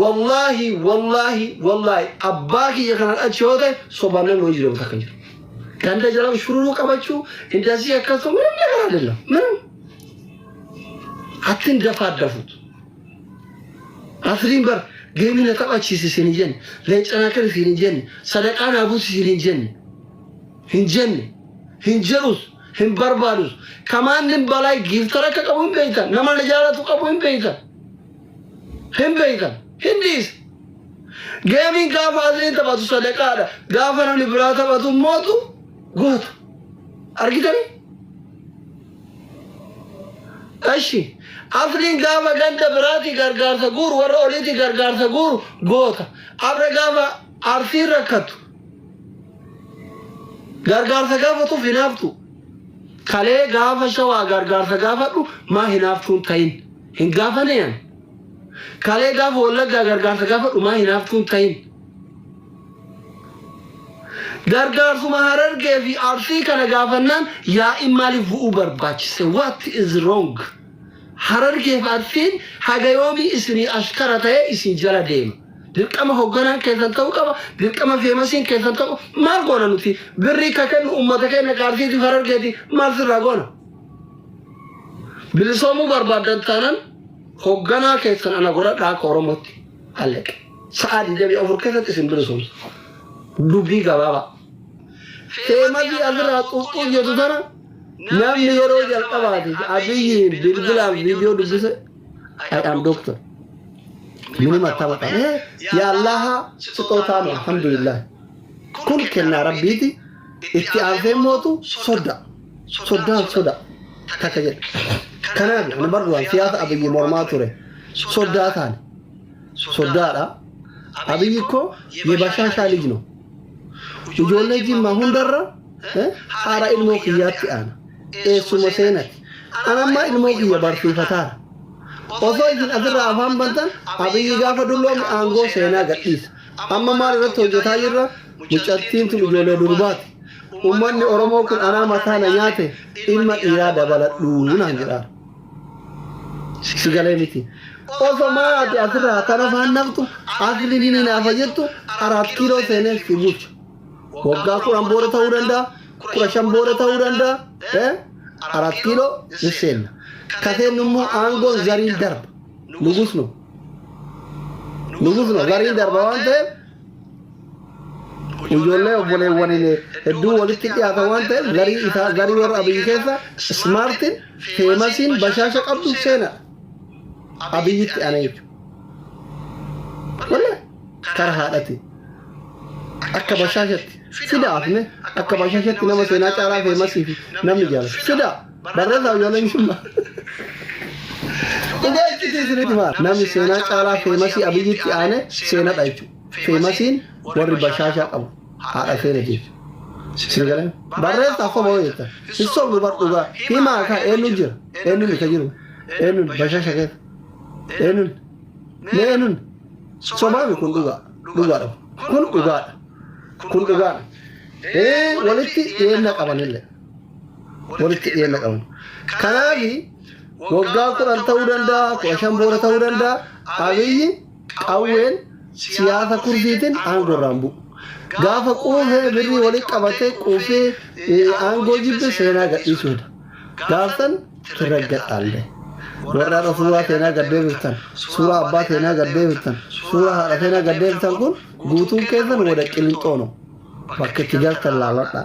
Wallaahi wallaahi wallaahi abbaa kiyya kanan achi yoo ta'e sobaan namni hojii deemu takka hin jiru. Ganda jala shururuu qabachuu indasii akkas ta'u minimna karaa dilla minim. Attin dafaa dafut. Asriin bar geemii na taphachiisi isin hin jenne leencanaa kan isin hin jenne sadaqaa naa buusi isin hin jenne hin jenne hin jedhus hin barbaadus kamaan nin balaa giiftara akka qabu hin beektan nama na jaalatu qabu hin beektan. Hin beektan. Hin dhiisa. Geemiin gaafa asiin taphatu sadaqaadha. Gaafa namni biraa taphatu mootu goota. Argitanii? Ashi. Afriin gaafa ganda biraati gargaarsa guuru warra oliiti gargaarsa guuru goota. Afra gaafa arsiin rakkatu. Gargaarsa gaafatuuf hinaaftu. Kalee gaafa shawaa gargaarsa gaafadhu maa hinaaftuun ta'in. Hin gaafanee an. Kalee gaafa wallaggaa gargaarsa gaafa dhumaa hinaaftuun tahin. Gargaarsuma harargee fi arsii kana gaafannaan yaa'iin maaliif bu'uu barbaachise? What is wrong? Harargee fi arsiin haga yoomii isinii ashkara ta'ee isin jala deema. Dirqama hogganaan keessan ta'uu qaba, dirqama feemasiin keessan ta'uu maal goona nuti? Birrii ka kennu uummata keenya ka arsiitiif harargeeti maal sirraa goona? Bilisoomuu barbaaddan taanan hoogganaa keessan ana godhadhaa akka Oromootti hallaqe. Sa'aa 24 keessatti isin bilisoomsa. Dubbii gabaabaa. Teemadii asirraa xuuxxuu jedhu sana namni yeroo jalqabaati abiyyiin bilbilaan viidiyoo dubbise ayyaam dooktar. Mini mattaba qabee yaallaha sixootaa alhamdulillah. Kun kennaa rabbiiti. Itti aansee mootu sodda. Soddaan soda takka jedhe. Kanaaf ani bar duraan siyaasa abiyyi mormaa ture. Soddaa taane. Soddaadha. Abiyyi ikkoo yebashaashaa lij no. Ijoollee jimmaa hundarra eh, haadha ilmoo kiyyaatti aana. Eessuma seenati. Anammaa ilmoo kiyya barsiifataara. Osoo isin asirraa afaan bantan abiyyi gaafa dulloomu aangoo seenaa gadhiisa. Amma maal irratti hojjetaa jirra? Mucattiin tun ijoollee durbaati. Uummanni Oromoo kun anaa mataa na nyaate ilma dhiiraa dabaladhu naan jedhaara. Si galee miti. Osoo maal ati asirraa tana faan naftu asli ni naafa jettu araat kiiloo seenee si bulcha. Waggaa kudhan booda ta'uu danda'a, kudha shan booda ta'uu danda'a. Eh? Araat kiiloo ni seenna. Ka seennu immoo aangoon zariin darba. Nugus nu. Nugusuun gariin darba waan ta'eef ijoollee obboleewwaniin hedduu walitti dhiyaata waan ta'eef garii isaa garii warra abiyyi keessa ismaartiin feemasiin bashaasha qabdu seena abiyyitti ana jechuudha. Wallee kara haadhati akka bashaashatti fidaa afne akka bashaashatti nama seenaa caalaa feemasii fi namni jaalatu fidaa. Barreessa ijoolleen jimma. Dhugaa itti isinit hima. Namni seenaa caalaa feemasii abiyyitti aane seenadha jechuudha. Feemasiin warri bashaashaa qabu haadha seena jechuudha. Sini galan barreessa soba hoo jettan. Hin sobnu bar dhugaa himaa kaa eenyu jira eenyu ni ka jiru eenyu bashaasha keessa eenyu mee eenyu sobaami kun dhugaa dhugaadha kun dhugaadha kun dhugaadha. Ee walitti dhiyeenya qabanillee. walitti dhiyeenya qaban. Kanaaf waggaa kudhan ta'uu danda'a, kudha shan booda ta'uu danda'a, abiyyi qawween siyaasa kurdiitiin aangorraan bu'u. Gaafa quufee birrii walitti qabatee quufee aangoo jibbe seenaa gadhiisuudha. Gaaftan tirragga dhaalle. Warra irra suuraa teenaa gad deebiftan, suuraa abbaa teenaa gad deebiftan, suuraa haadha teenaa gad deebiftan kun guutuun keessan wada qilinxoono. Bakka itti galtan laaladhaa.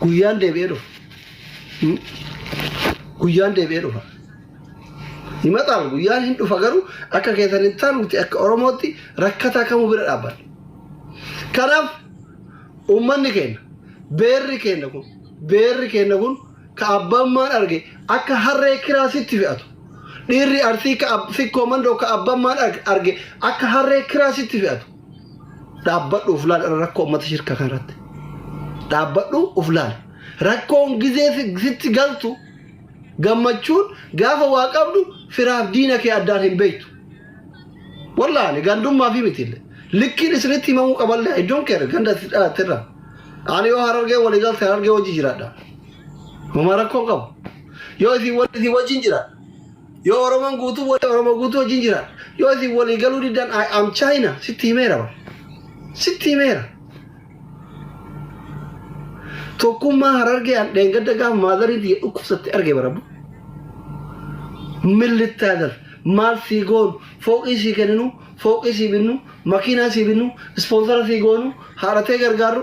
guyyaan deebi'ee dhufa. Guyyaan deebi'ee dhufa. Himataan guyyaan hin dhufa garuu akka keessan hin taanu nuti akka Oromootti rakkataa kamuu bira dhaabbanna. Kanaaf uummanni keenya beerri keenya kun beerri keenya kun ka abbammaan arge akka harree kiraasitti fe'atu. Dhiirri arsii ka sikkoo mandoo ka abbammaan arge akka harree kiraasitti fe'atu. dhaabbadhu of laal rakkoo ummata shirka kanarratti dhaabbadhu of laal rakkoon gizee si- sitti galtu gammachuun gaafa waa qabdu firaaf diina kee addaan hin beektu wallahi gandummaa fi miti likkiin isinitti himamuu qaballee iddoon kee ganda itti dhalatte irra ani yoo harargee walii galte harargee wajji jiraadha homaa rakkoo qabu yoo isin wal isin wajjin jiraadha Yoo Oromoon guutuu wal Oromoo guutuu wajjin jira. Yoo isin walii galuu diddan I am China sitti himeera bar. Sitti himeera. Tokkummaa harargee an dheengadda gaafa maadariin tiyya dhukkubsatte arge barabbu. Millittaadar maal sii goonu fooqii sii kenninu fooqii sii binnu makiinaa sii binnu ispoonsara sii goonu haadhatee gargaarru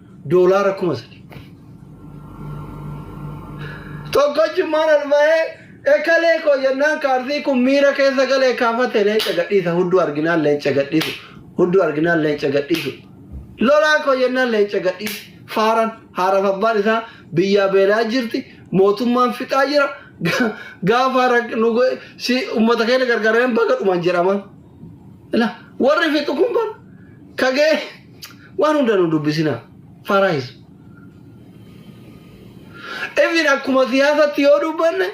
doolaara kuma sadii. Tokkochummaan ol ba'ee ekalee koo jennaan kaardii kun miira keessa galee kaafate leenca gadhiisa hudduu arginaan leenca gadhiisu hudduu arginaan leenca gadhiisu lolaa koo jennaan leenca gadhiise faaran haaraaf abbaan isaa biyyaa beelaa jirti mootummaan fixaa jira Ga- gaafa rak- nu go- si ummata keenya gargaareen baga dhuman jedhama. Ila warri fixu kun bar kagee Waan hunda nu dubbisina. Faraayiz. Even akkuma siyaasatti yoo dubbanne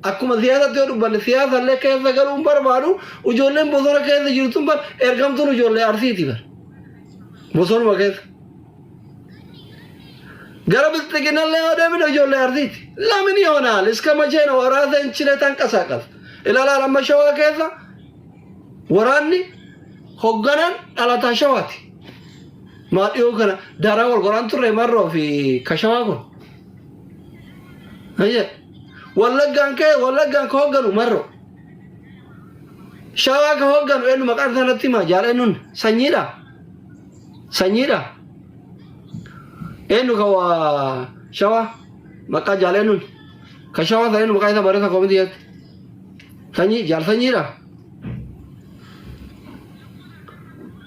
akkuma siyaasatti yoo dubbanne siyaasallee keessa galuu hin barbaadu ijoolleen bosona keessa jirtun bar ergamtuun ijoollee arsiiti bar bosonuma keessa. Gara bilxiginallee yoo deemne ijoollee arsiiti. Lamin yoonaal iska machee na waraasa hin chile tanqasaaqas. Ilaalaan amma shawaa keessa Waraanni hogganaan dhalataa shawaati. Maa dhiyoo kana daaraa wal qoraan turre marroo fi kashawaa kun. Ayya. Wallaggaan ka'e wallaggaan ka hogganu marroo. Shawaa ka hogganu eenyu maqaan isaa natti himaa jaal eenyuun sanyiidha. Sanyiidha. Eenyu ka waa shawaa maqaa jaal eenyuun. Ka shawaa sana eenyu maqaa isaa barreessa koomitii jetti. Sanyii jaal sanyiidha.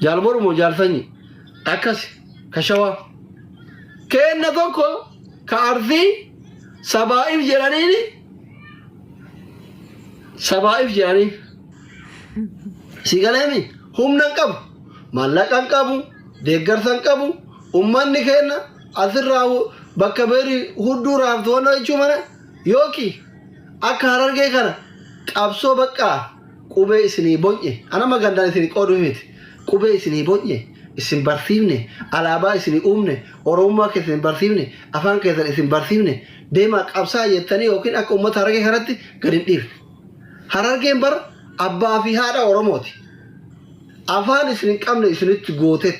Jaal Borumoo jaal sanyii. Akkasi ka shawaa. Keenna tokko ka arsii sabaa'iif jedhaniini sabaa'iif jedhaniif. Si galeemi humna hin qabu. Maallaqa hin qabu. Deeggarsa hin qabu. Ummanni keenna asirraa bakka beeri hudduu raaftu wanna jechuu mana Yooki akka harargee kana qabsoo baqqaa qubee isinii bonye anama gandaan isinii qooduu miti qubee isinii bonye isin barsiifne alaabaa isinii uumne oromummaa keessan isin barsiifne afaan keessan isin barsiifne deemaa qabsaa jettanii yookiin akka ummata harargee kanatti gad hin dhiifne harargeen bar abbaa fi haadha oromooti Afaan isin hin qabne isinitti gootet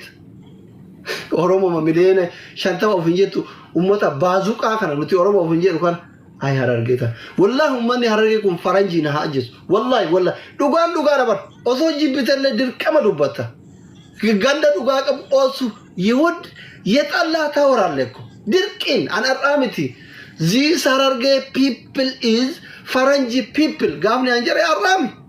Oromoma miliyoona shantama of hin jettu ummata baazuqaa kana nuti Oromo of hin jedhu kana ay harargee tan. Wallahi ummanni harargee kun faranjii na haa ajjesu. Wallahi wallahi dhugaan dhugaa na bar osoo jibbitellee dirqama dubbatta. Ganda dhugaa qabu osu Yihud yexallaa tawaraalle ko dirqiin an har'aa miti. These harargee people is faranjii people gaafni an jedhe har'aa miti.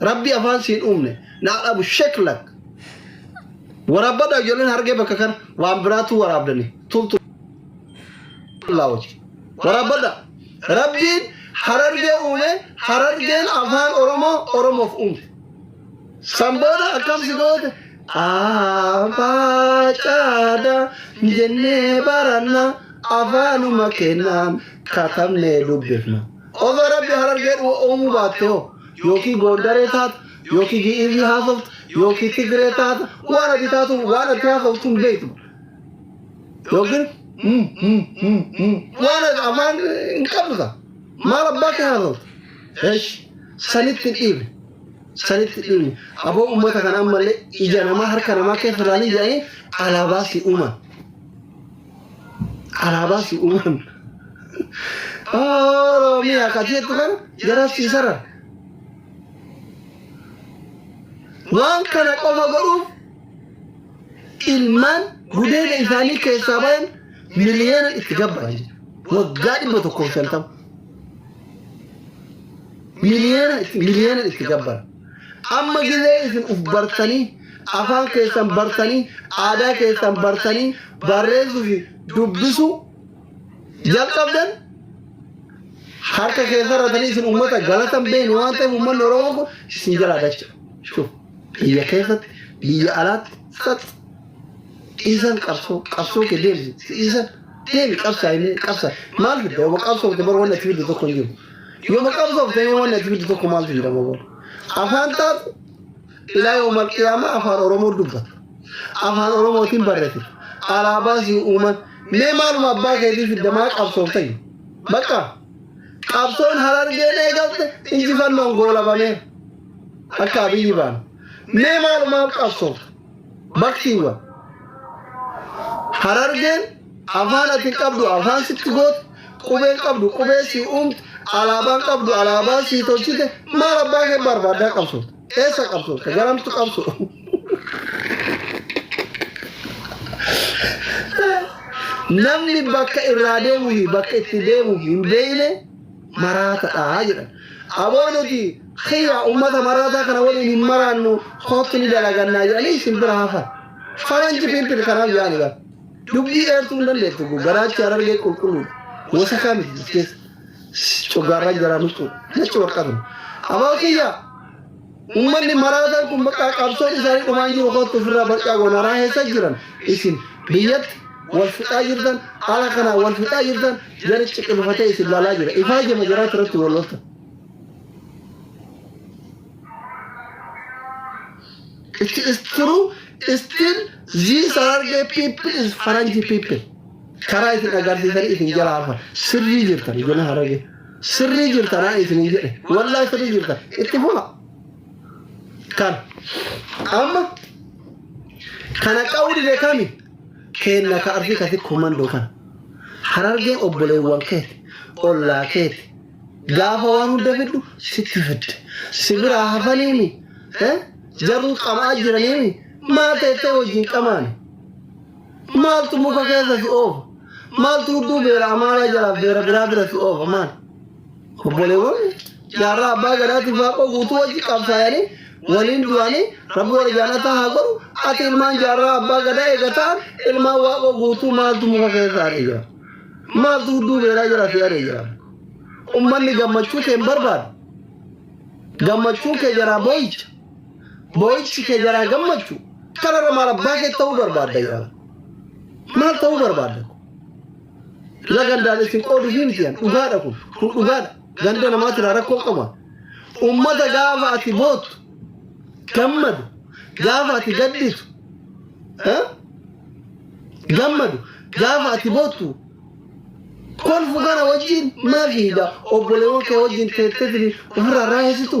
Rabbi afaan siin uumne naa dhabu sheklak. Waraabadha ijoolleen hargee bakka kana waan biraatu waraabdani. Tubtu laawoti. Waraabadha. Rabbiin harargee uume harargeen afaan Oromoo Oromoof uumte. San booda akkam si goote? Abbaa caada jennee baranna afaanuma kennaan katabnee dubbifna. Osoo rabbi harargee uumuu baatte hoo Yookiin Goondaree taata, yookiin Gi'iizii haasofta, yookiin Tigree taata, waan ati taatu, waan ati haasoftu hin beektu. Yookiin mm, mm, mm, mm, waan ati afaan hin qabdu ta'a. Maal abbaa kee haasofta? Esh, sanitti dhiibe. Sanitti dhiibe. Aboo uummata kana ammallee ija namaa harka namaa keessa ilaalanii jedhanii alaabaa si uuman. Alaabaa si uuman. Oromiyaa ka jettu kan jara si saran. Waan kana qofa godhuuf ilmaan gudeeda isaanii keessaa bayan miliyoona itti gabbara jechuudha. Waggaa dhibba tokkoof shantama. Miliyoona itti miliyoona itti gabbara. Amma gizee isin uf bartanii, afaan keessan bartanii, aadaa keessan bartanii barreessuu fi dubbisuu jalqabdan harka keessan ratanii isin uummata galata hin beekne waan ta'eef uummanni Oromoo kun isin jalaa dacha. Shuf biyya keessatti biyya alaatti sax dhiisan qabsoo qabsoo kee deemsi dhiisan deemi qabsaa inni qabsaa maal fidda yoo qabsoo fidda bara wanni ati fiddu tokko hin jiru Yoo maqabsoof ta'ee waan ati fiddu tokko maaltu jira maboon? Afaan taatu ilaa yoo malqiyaama afaan Oromoo dubbata. Afaan Oromootiin barreessa. Alaabaa si uuman. Mee maaluma abbaa keetii fidda maa qabsoof ta'e? Bakka qabsoon harargeen eegalte injifannoon goolabamee akka abiyyi baana. Mee maalumaaf qabsoofta? Baktiiwwan. Harargeen afaan ati hin qabdu afaan sitti goote qubeen qabdu qubee sii uumte alaabaan qabdu alaabaa sii tolchite maal abbaa kee barbaaddaa qabsu eessa qabsu ka garamtu qabsu namni bakka irraa deemuu fi bakka itti deemuuf hin beekne maraatadha jedhan. Aboo nuti kiyya ummata maraataa kana waliin hin maraannu kootti ni dalagannaa jedhanii isin bira hafan. Faranji pimpil kanaaf yaani bara. Dubbii dheertuu hin dandeettu kun garaachi harargee qulqulluudha. Wasakaa miti as keessa. Coggaarraa jaraa nuquudha. Nachi warqatuma. Aboo kiyya Uummanni maraataan kun bakka qabsoon isaanii dhumaan jiru kootti ofirraa barcaa goonaraa keessa jiran isin biyyatti wal fixaa jirtan ala kanaa wal fixaa jirtan jara ciqilfatee isin laalaa jira ifaa jama jaraatti irratti wal loltan. It is true still these Hararghe people is Faranji people. Karaa isin agarsiisanii isin jala hafan sirrii jirtan ijoollee Hararghe. Sirrii jirta naan isiniin jedhe. Wallahi sirrii jirta. Itti fufa. Kan. Amma. Kana qa'uu dide kami. Keenna ka ardi kati komandoo kan. Harargeen obboleewwan keeti. Ollaa keeti. Gaafa waan hunda fiddu sitti fidde. Si biraa hafaniimi. Eh? Jaruu qamaa jiraniimi. Maa teettee wajjin qamaani. Maaltu muka keessa si oofa? Maaltu udduu beera amaaraa jalaa beera biraa bira si oofa maal? Obboleewwan jaarraa abbaa gadaatiif waaqoo guutuu wajji qabsaayanii waliin du'anii rabbi warra jaanataa haa godhu ati ilmaan jaarraa abbaa gadaa eega ta'an ilmaan waaqoo guutuu maaltu muka keessa aree jira? Maaltu udduu beeraa jala si aree jira? Ummanni gammachuu kee hin barbaadu. Gammachuu kee jaraa boo'icha. Boo'ichi kee jalaa gammachu kanarra maal abbaa kee ta'uu barbaadda jedhama. Maal ta'uu barbaadda? Ila gandaan isin qooduu fi miti dhugaadha kun. Kun dhugaadha. Ganda namaatiin rakkoo qaba. Uummata gaafa ati bootu gammadu gaafa ati gadditu eh? gammadu gaafa ati bootu kolfu kana wajjin maal fiida obboleewwan kee wajjin teettetini ofirraa raayisitu.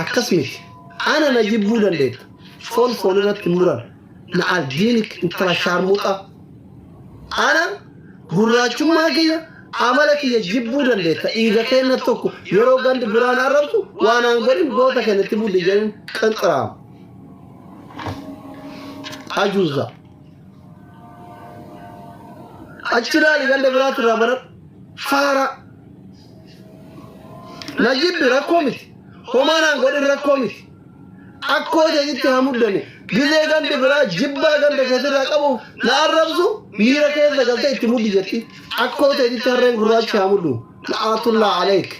Akkas miti. Ana na jibbuu dandeetta. Foon foon irratti hin muran. Na albiinic intala shaarmuxaa. Ana gurraachummaa kiyya amala kiyya jibbuu dandeetta. Dhiiga keenna tokko yeroo gandi biraan arrabsu waan aan godhin goota keenna itti budde jedheen qanxiraama. Ajuuza. Achi ilaali ganda biraatti irraa baradhu. Faaraa. Na jibbi rakkoo miti. Homaa naan godhin rakkoo miti. Akkoo teetitti haa muddani. Gizee gandi biraa jibbaa ganda keetirraa qabu na arrabsu miira keessa galtee itti muddi jetti. Akkoo teetitti harreen gurraachi haa muddu. La'aatullaa aleek.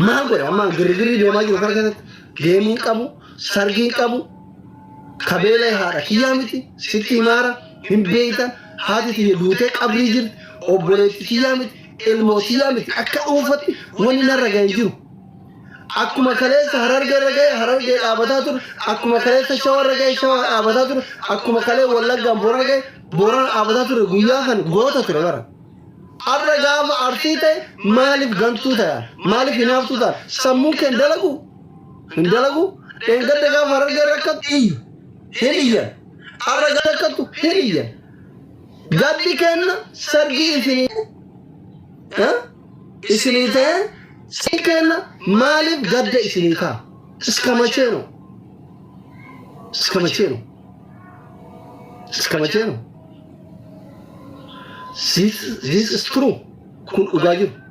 Maal godhe ammaan girgirri deemaa jiru kana keessatti geemiin qabu sargiin qabu kabeela haadha kiyyaa miti sitti himaara hin beeyta haati tiyya duutee qabrii jirti obboleetti tiyyaa miti ilmoo tiyyaa miti akka dhuunfatti wani narra ga'e hin jiru. Akkuma kaleessa harargee irra ga'e harargee dhaabataa ture akkuma kaleessa shawaa irra ga'e shawaa dhaabataa ture akkuma kalee wallaggaan boorana ga'e boorana dhaabataa ture guyyaa kan goota ture bara. Arra gaafa arsii ta'e maaliif gantuu ta'an maaliif hinaaftuu ta'an sammuun keen dalagu hin dalagu dheengadda gaafa harargee rakkatti iyyu hin iyyan arra gaafa rakkattu hin iyyan gaddi kenna sargii isinii eh? isinii ta'e sargii kenna maaliif gadda isinii ta'a iskamacheeno iskamacheeno iskamacheeno this this is true kun dhugaa jiru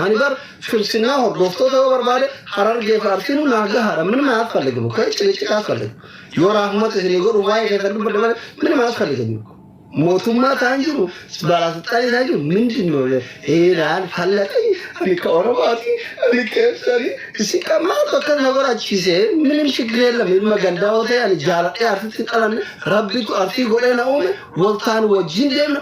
Ani bar filsinnaa hordoftoota yoo barbaade harargee fi arsiinu naa gahaadha min maa asfallige bukka icci icciqa asfallige yoo raahumata isinii godhu waa'ee keessan dubbadde malee min maa asfallige bukka mootummaa taan jiru baalaasixaanii taan jiru mindin noo heenaan fallaxii ani ka oromaatii ani keessanii isin kan maaltu akka na godhachiisee minim shigree lama ilma gandaa yoo ta'e ani jaaladhee arsitti dhalanne rabbitu arsii godhee na uume waltaan wajjin deemna